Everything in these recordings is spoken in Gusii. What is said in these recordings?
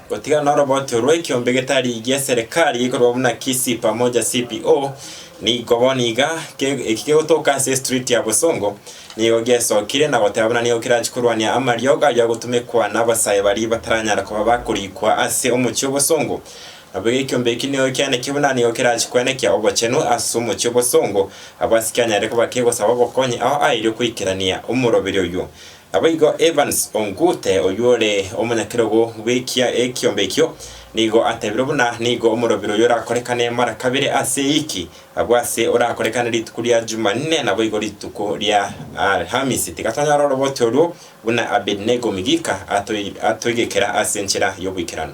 Gotigana n'orobocho rw'ekiombe getari gi'eserekari gekorwa buna Kisii Pamoja CPO, nigo bono iga eki kegotoka ase estriti ya Bosongo, nigo giesokire na goteba buna nigo kerache korwania amariogo ayio agotumekwa n'abasae baria bataranyara koba bakorikwa ase omochie o Bosongo. Nabo iga ekiombe eki nigo kianekire buna nigo kerache kwenekia obochenu ase omochie o Bosongo, abasike anyare koba kegosaba obokonyi ao aerio koikerania omoroberio oyio. Naboigo Evans Ongute, oyio ore omonyakerogo bw'ekia ekiombe ekio, nigo atebire buna nigo omorobiri oyio orakorekane mara kabere ase ewiki, agwo ase orakorekane rituko ria Jumanne naboigo rituko ria Alhamisi. Tiga tonyore oroboti oruo buna Abednego Migika atoigekera ase enchera y'oboikeranu.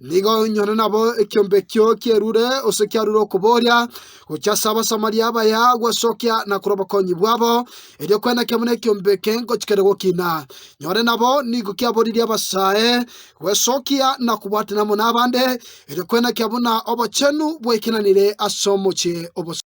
Nigo nyore nabo ekiombe ekio kierure gose kiarure okobooria, gochia ase Abasamaria abaya gwesokia na korwa obokonyi bwabo, erio kwenekio buna ekiombe eke ngochia kere gokina. Nyore nabo nigo kiaboririe abasae gwesokia na kobwatana amo nabande, erio kwenekio buna obochenu bwaikananire ase omochie obosae.